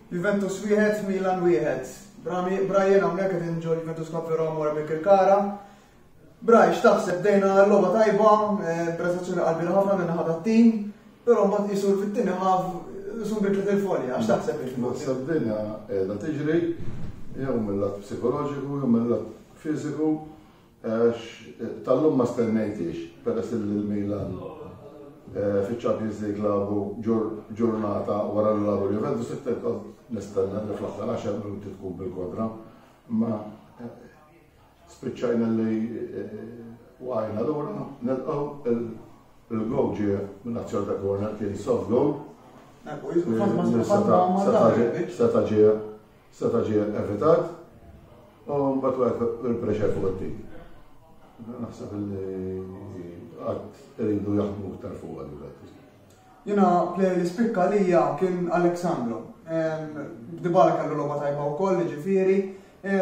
Juventus wieħed, Milan wieħed. Brian hawnhekk qed inġu Juventus Club Roma wara bil kara Brian, x'taħseb dejna l-logħba tajba, eh, prestazzjoni qalbina ħafna minn ħadd tim però mbagħad qisu fit-tieni ħaf isu bidlet il-folja, għax taħseb il Naħseb dinja qiegħda tiġri jew mill-lat psikoloġiku jew mill-lat fiżiku Għax tal-lum ma stennejtiex peress li l-Milan eh, fiċ-Champions League labu ġurnata wara li labu l-Juventus it-tent nistenna li fl-aħħar għaxar minuti tkun bil-kontra. Ma eh, spiċċajna li eh, waqajna l-ura nilqgħu il-gow ġie minn azzjon ta' corner kien soft goal. Seta ġie Seta' ġie evitat u mbagħad waqgħet il-pressure fuq it-tim. Naħseb li qatt iridu jaħdmu iktar fuq għal Jena plejer li spikka lija kien Aleksandro. Dibala kellu logħba tajba wkoll, ġifieri,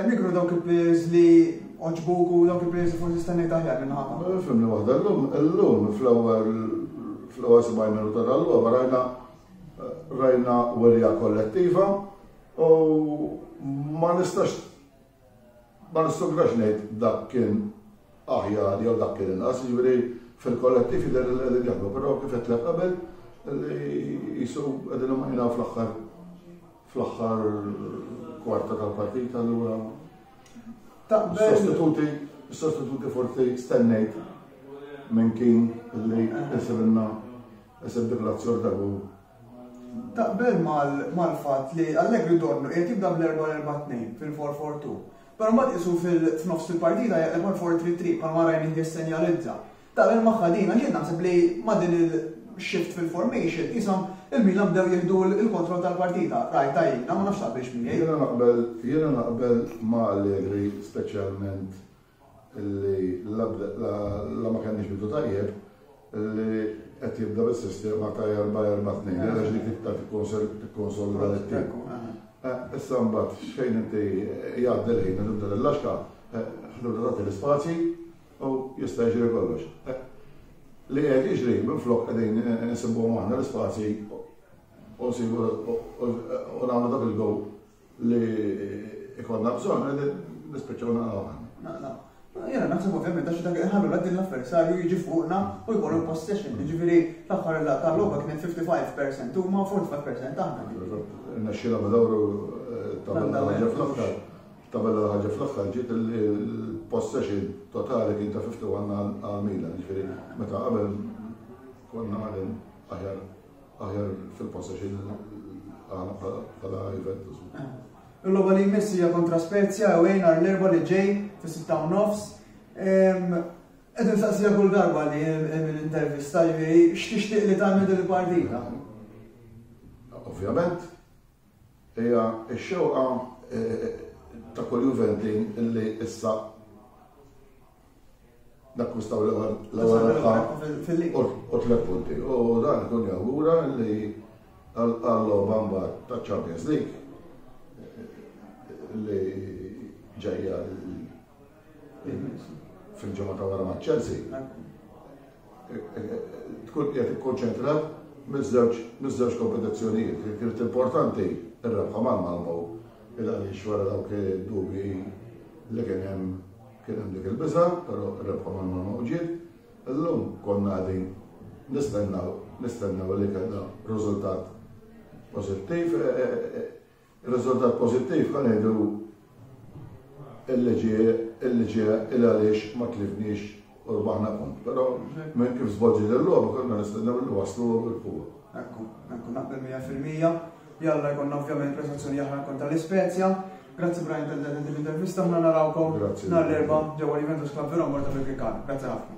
nikru dawk il-plejers li oġbuk u dawk il-plejers li forsi stenni taħjar minn ħafna. Fimni waħda llum, illum fl-ewwel fl-ewwel 70 minuta tal-logħba rajna rajna werja kollettiva U ma nistax ma nissugrax ngħid dak kien aħjar jew dak kien inqas, jiġifieri fil-kollettiv jidher li qegħdin jaħdmu, però kif qed qabel li jisu qegħdin imajnaw fl-aħħar fl-aħħar kwarta tal-partita allura sostituti sostituti forsi stennejt minn kien li jisibinna jisib dik l-azzjor dagu Taqbel mal-fatt li Allegri donnu qiegħed jibda bl-4-4-2 fil-four-four-two, però mbagħad qisu f'nofs il-partita jaqleb għal four-three-three bħalma Reining jissenjalizza. Taqbel magħha din għax jien naħseb li ma' din il-shift fil-formation qishom il-Milan bdew jieħdu l-kontroll tal-partita. Rajtha jiena, ma nafx taqbilx miegħi. Jiena naqbel ma' Allegri speċjalment li la ma kellniex bidu tajjeb li qed jibda bis-sistema ta' 4-4-2 għaliex dik iktar tikkonsolida lit-tim. Issa mbagħad xejn inti jgħaddi l-ħin u tibda l-laxka, tibda tagħti l-ispazji u jista' jiġri kollox. Li qed jiġri minflok qegħdin insibuhom aħna l-ispazji u nsibu u nagħmlu dak il-gowl li ikollna bżonn qegħdin nispiċċaw naqraw ħanni. Naqraw. Jena naħseb ovvjament għax dak ħallu la din l-avversarju jiġi fuqna u jkollu possession, ġifieri l-aħħar la tal-logħba kienet 55% huma 45% aħna. Naxxina b'dawru eh, tabella ħaġa fl-aħħar. Tabella ħaġa fl-aħħar ġiet il-possession totali kien ta' 51 għal Milan, ġifieri meta qabel konna għadin aħjar Aħjar fil-possession bħala Juventus. Il-logħba li jmiss hija kontra Spezia u għajn għar l-erba li ġej fis-sitta u nofs. Qed insaqsija kull darba li l-intervista ġifieri x'tixtieq li tagħmel din il-partita. Ovvjament, Hija x-xewqa ta' kull Juventin illi issa nakkwistaw l-ewwel rebħa u tliet punti. U dan ikun jawgura li għall-logħba mbagħad ta' Champions League li ġejja fil-ġimgħa ta' wara ma' Chelsea, tkun qiegħed ikkonċentrat miż-żewġ kompetizzjonijiet. Kienet importanti r-rebħa ma' Malmo il għaliex wara dawk id-dubji li kien hemm kien hemm dik il-biża, però r-rebħa ma' Malmo ġiet. Illum konna qegħdin nistennew nistennew li kellna riżultat pożittiv Ir-riżultat pożittiv ħa ngħidu illi ġie illi ġie il għaliex ma tlifniex u rbaħna punt. Però minn kif żvolġiet il-logħba konna nistennew li waslu u rebħuha. Ekku, ekku naqbel 100%. Jalla jkollna ovvjament prestazzjoni aħna kontra l-Ispezja. Grazzi Brian tal-dan din l-intervista ħna narawkom Grazzi. nhar l-erba' ġewwa Juventus Club Verona Morta fil-Krikan. Grazzi ħafna.